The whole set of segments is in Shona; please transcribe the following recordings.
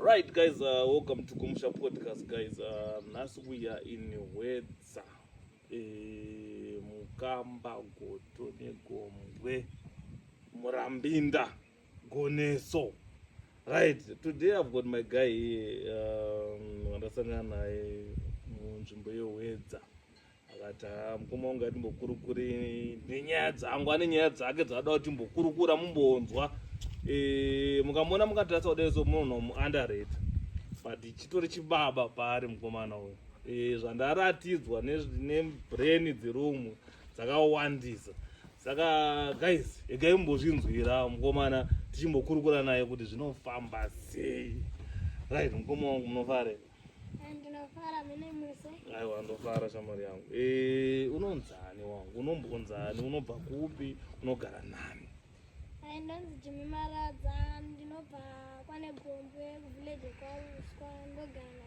right guys uh, welcome to kumusha podcast guys uh, nhasi uh, we are in hwedza e, eh, mukamba goto negombwe murambinda Goneso. Right, today I've got my guy here um, wandasangana um, naye munzvimbo yehwedza akati ah, mukoma wangu atimbokurukure nenyaya dzangu ane nyaya dzake dzaada kuti mbokurukura mumbonzwa e, mukamona mukatarisa kudai so munhu muunderate but chitori chibaba paari mukomana uyu e, zvandaratidzwa nebrain dzerumwe dzakawandisa saka guys egai mumbozvinzwira mukomana tichimbokurukura naye kuti zvinofamba sei right mukoma wangu munofare eh, ndinofara mine muse aiwa ndofara shamwari yangu e, unonzani wangu unombonzani unobva kupi unogara nani ai ndonzi jimi maradza ndinobva kwane gombwe kuvillage kwauswa ndogara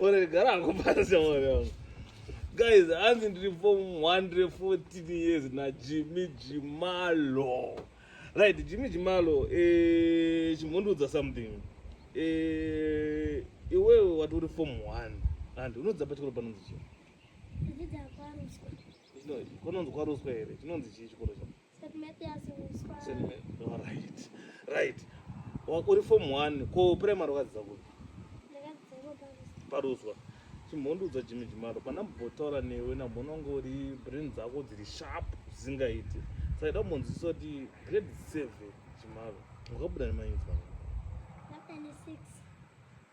Ore gara akupasa ore. Guys, hanzi ndiri form 114 years na Jimmy Jimalo. Right, Jimmy Jimalo eh chimundudza something. Eh iwewe wati uri form 1 and unodza pachikoro panonzi chii? Ndidza kwa Ruswa. Chinonzi kwa Ruswa here? Chinonzi chii chikoro chako? right uri form one ko primary wakadzidza kupi paruswa chimhondudza jimi jimaro pana mbotaura newe nambononge uri brain dzako dziri sharp zvisingaiti saida kumbonzwisisa kuti grade seven jimaro wakabuda nemainzwa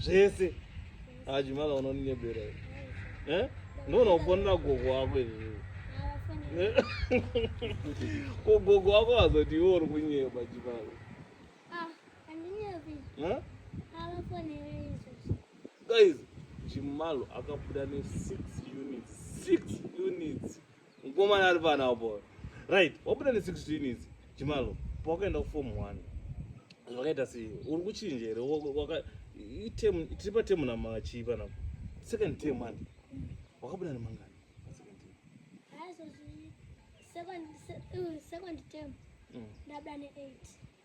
zvese ajimala ah, unoninyebera eh? ndoona kufonera gogo wako izvi kugogo wako azoti iwe uri kunyeba jimala ah, guys chimalo akabuda ne six units six units Mkomana ari pana apo. Right, wabuda ne 16 idzi. Chimalo, pawakaenda ku form 1. Zvakaita sei? Uri kuchinja here? Waka item tiri pa term nama chii pana. Second term man. Wakabuda ne mangani? Second term. Hayi so second second term. Mm. Ndabuda ne 8.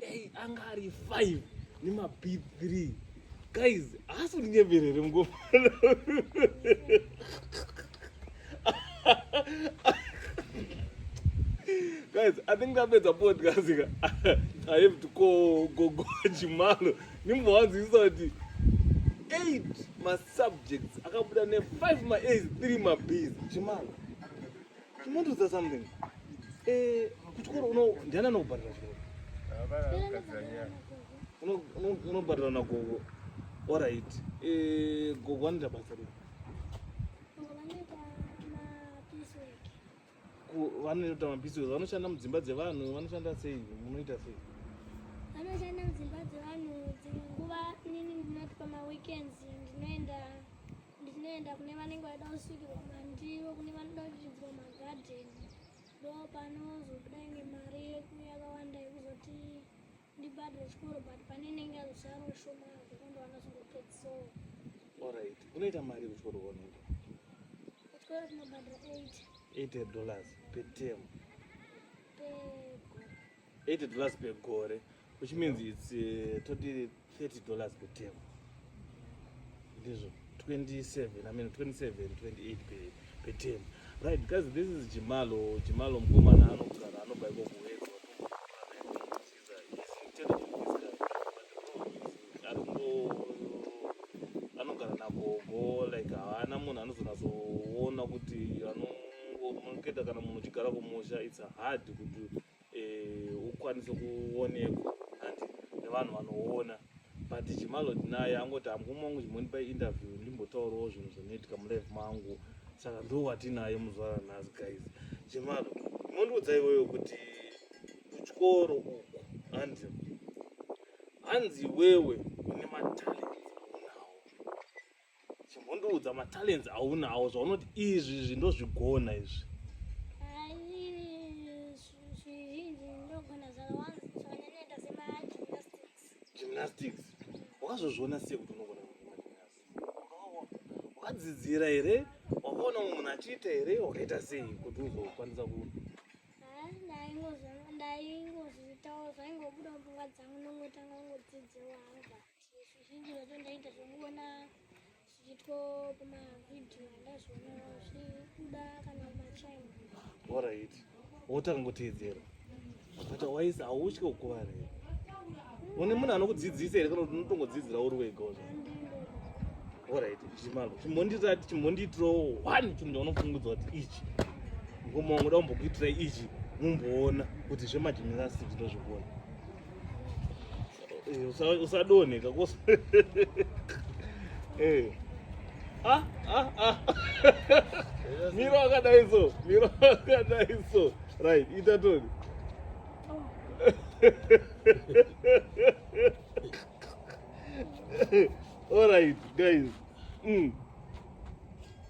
Hey, anga ari 5 nema B3. Guys, haasi kunyeverera here mukofana? Guys, I think ndapedza podcast ka. I have to call Gogo Chimalo. Nimbowanzwisisa kuti 8 ma subjects akabuda ne 5 ma A's, 3 ma B's. Chimalo. Chimundiudza something. Eh, kuchikoro uno ndiana anokubhadhara chikoro. Unobhadhara na gogo. All right. Eh, gogo anoita basa rei? vanoita mabhizi vanoshanda mudzimba dzevanhu vanoshanda sei munoita sei vanoshanda mudzimba dzevanhu dzimwe nguva inini ndinoti pamaweekends ndinoenda Ndinoenda kune vanenge vaida kusvikirwa mandiro, kune vanoda kuchidzwa magadheni, ndo panozobuda inge mari yeku yakawanda yekuzoti ndibhadhire chikoro but pane inenge yazosara ushoma zvekuti ndo vanozongopedzisoo. Alright, unoita mari kuchikoro kwaunoenda? Kuchikoro tinobhadhira 8. 8 dollars per term. Per 80 dollars per gore which means it's uh, toti 30 dollars per term ndizvo 27 i mean 27 28 per, per term right because this is jimalo jimalo mkomana anogara anobva iko kuwedzwa anogara nagogo like haana munhu anozonatsoona kuti anongomunokuita kana munhu uchigara kumusha it's hard kuti ukwanise kuonekwa hanti nevanhu vanoona but chimalod naye angoti amkoma wangu chimondipa interview ndimbotaurawo zvinhu zvinoitika mulife mangu saka ndo watinaye muzvara nhasi guys chimalo mondiudza iweyo kuti kuchikoro uku hanzi hanzi iwewe une matalent Chimbondiudza matalents aunawo zvaunoti izvi izvi ndozvigona izvi. Gymnastics. Wakazozviona sei kuti unogona kuimba gymnastics? Wakadzidzira here? Wakaona munhu achiita here? Wakaita sei kuti uzokwanisa ku ndaingozviitawo zvaingobuda pfungwa dzangu nongotanga kungodzidzira wanga. zvizhinji zvacho ndainge zvomuona zvichiitwa pamavhidhiyo ndazviona zvibuda kana machina orit wotanga kuteedzera but waisi hautye kukuvara here une munhu anokudzidzisa here kana kuti unotongodzidzira uri wega orit chimalo chimbondirati chimbondiitirawo one chinhu chaunofungudza kuti ichi ngomaungoda kumbokuitira ichi mumboona kuti zvemajinirasiti ndozvikuona Eh, usadone kakosa eh. ah, ah, ah. miro akadai so miro akadai so right ita toni all right guys mm.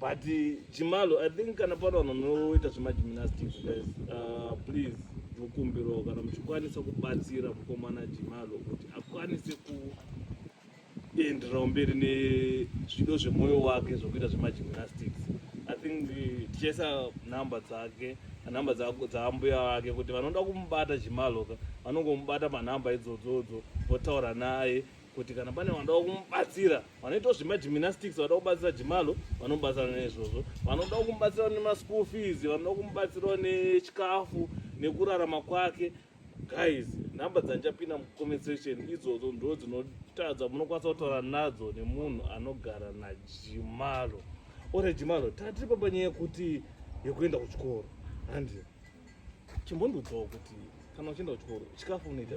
But Chimalo, I think kana pano vanhu vanoita zvemagymnastics guys, uh, please mukumbiro kana muchikwanisa kubatsira mukomana Chimalo kuti akwanise kuenderera mberi nezvido zvemoyo wake zvokuita zvemagymnastics. I think tichaisa number dzake number dzaambuya vake kuti vanoda kumubata Chimalo ka vanongomubata panumber idzodzodzo votaura naye kuti kana pane vanoda kumubatsira vanoitawo zvemagymnastics vanoda kubatsira jimalo vanobatsira neizvozvo vanoda kumubatsira nemaschool fees vanoda kumubatsirawo nechikafu nekurarama kwake guys number dzandichapinda mucomment section idzodzo ndo dzinotadza munokwanisa kutaura nadzo nemunhu anogara najimalo ore jimalo tatiri papanyaya yekuti yekuenda kuchikoro handi chimbondiudzawo kuti kana uchienda kuchikoro chikafu unoita ah,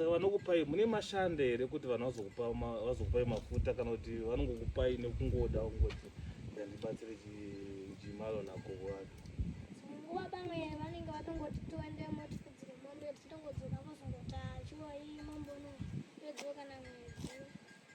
saka vanokupai mune mashanda here kuti vanhu vazokupai mafuta kana kuti vanongokupai nekungoda kungoti ndandibatsire chimalo nako wake nguva pamwe vanenge vatongoti tiende motifudzire mombe tichitongodzoka vozongoti achiwa iyi mombono yodzoka na mwedzi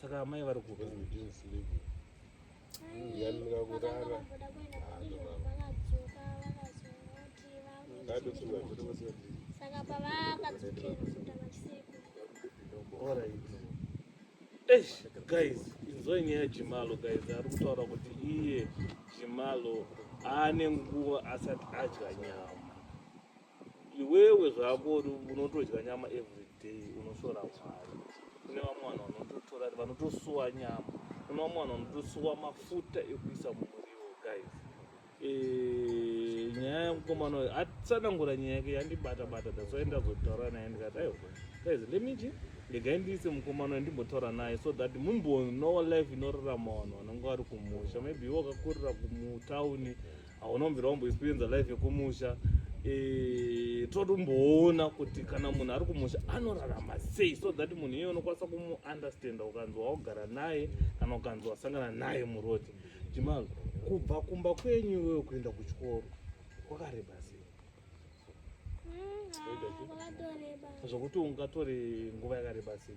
saka amai vari kuda kurara saka pavakadzokera kusuta machisiku eish guys inzoi nyaya jimalo guys ari kutaura kuti iye jimalo aane nguva asati adya nyama iwewe zvako unotodya nyama everyday unoshora mwari kune vamwe vanhu vanototora vanotosuwa nyama kune vamwe vanhu vanotosuwa mafuta ekuisa mumuriwo guys eh, nyaya yemukomana uyo atsanangura nyaya yake yandibata bata dasai ndazotaura naye ndikati aiwa guys lemiti regai ndiise mukomana uyo ndimbotaura naye so that mumbonowa life inorarama vanhu vanenge vari kumusha maybe iwe wakakurira kumutauni hauna kumbira wamboexperienza life yekumusha eh, toti umboona kuti kana munhu ari kumusha anorarama sei so that munhu iye unokwanisa kumuunderstanda ukanzi waogara naye kana ukanzi wasangana naye muroti jimal kubva kumba kwenyu iweyo kuenda kuchikoro kwakareba sei mm, ah, zvokuti ungatore nguva yakareba sei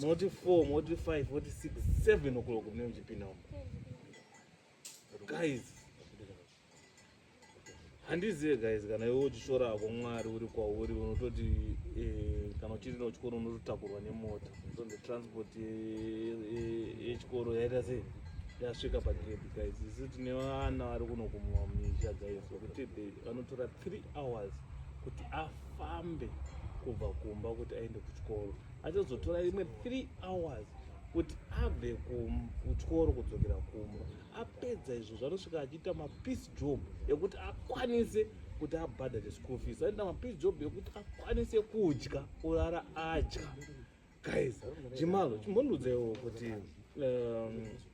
moti 4 moti 5 moti 6 7 o'clock mune muchipinda umo guys handizive guys kana iwe uchishora hako mwari uri kwauri unototi eh, kana uchiri nochikoro unototakurwa nemota so the transport yechikoro yaita sei yasvika pagedi guys isu tine vana vari kunokumwa misha guys vekuti vanotora three hours kuti afambe kubva kumba kuti aende kuchikoro Achazotora imwe 3 hours kuti abve kuchikoro kudzokera kumba apedza izvo zvanosvika achiita mapeace job ekuti akwanise kuti abhadhare school fees aita mapeace job ekuti akwanise kudya kurara adya guys chimalo chimbondiudzaiwo kuti um,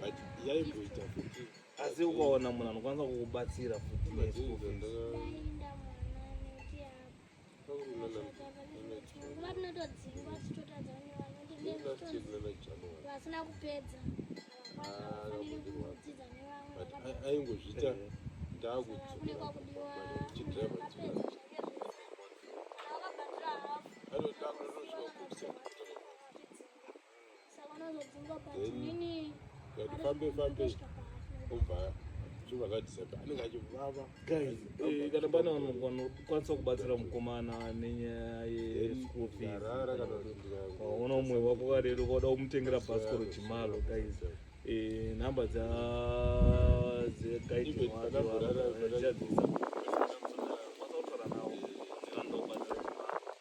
but yaimboita futi asi ukaona munhu anokwanisa kukubatsira futi vasina kupedza aingozviita ndakuchidriver fambe fambe obva zvobva zvadisapa anenge achivava eh, kana pane vanokwanisa kubatsira mukomana nenyaya yeschool feesvaona umwe wako karero vauda kumutengera bhasikoro chimalo guys eh, nhamba dza dzekaiti wake vachadzisa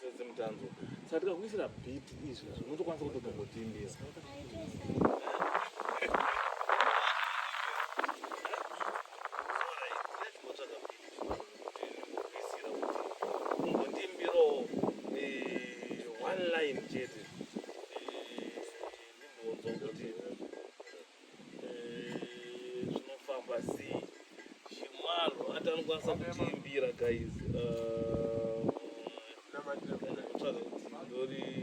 Sisi mutanzo. Saka tikakuisira beat izvi unotokwanisa kutogogotimbira. zvinofamba sei chimalo hata anokwanisa kutiimbira guys ndori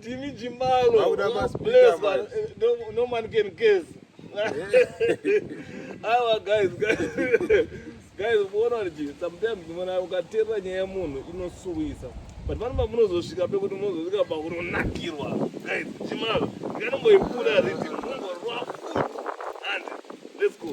Timi Jimalo. Bless, but eh, no, no man can guess. Our guys, guys. guys muona kuti sometimes mona ukaterera nyaya yemunhu inosuwisa but vanova munozosvika pekuti munozosvika pakunonakirwa guys chimalo ndikanomboipura riti mungorwa futi and let's go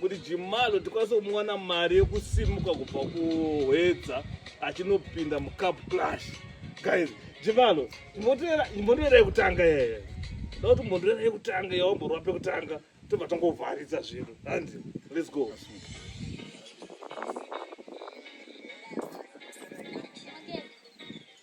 kuti jimalo tikwanise kumuwana mari yekusimuka kubva kuhwedza achinopinda mucup clash guys jimalo imbondoera yekutanga yeye da kuti mbondoera yekutanga yawamborwa pekutanga tobva tangovharidza zvinhu and let's go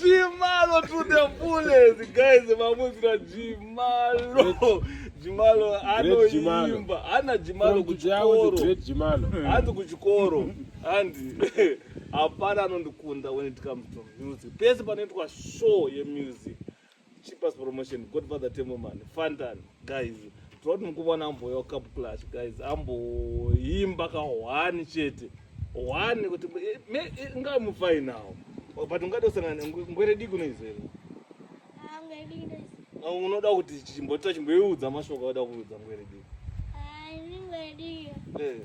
Jimalo to the fullest guys, mamunzira Jimalo. Jimalo anoimba. Ana Jimalo kuchikoro. Anzi kuchikoro. Anzi hapana anondikunda when it comes to music pese panoitwa show yemusic cheapers promotion godfather temoman fantan guys toti mukuvona amboya cup clash guys amboimba ka one chete one kuti eh, eh, nga mufai now oh, but ungada usangana ngwere dii kunoizera ah, unoda kuti chimbota chimboiudza mashoko auda kuudza ngwere dii ah, eh.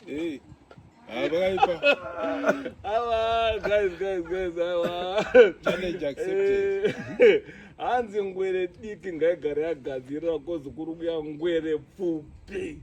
Hey. Abaipa. Awa, guys, guys, guys, awa. Challenge accepted. Eh, hanzi ngwere diki ngaigare yagadzirira kozi kuri kuya ngwere pfupi.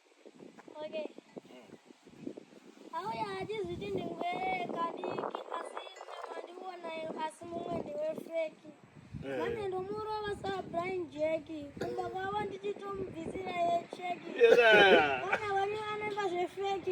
Okay. Auya achizviti ndingwere kadiki asi mandiwonayo asi mumwe ndiwe feki. Eh. Vane ndomurova sa Brian Jack. Kumba kwavo ndichitomubvisira ye check. Kana vane vanoimba zvefeki.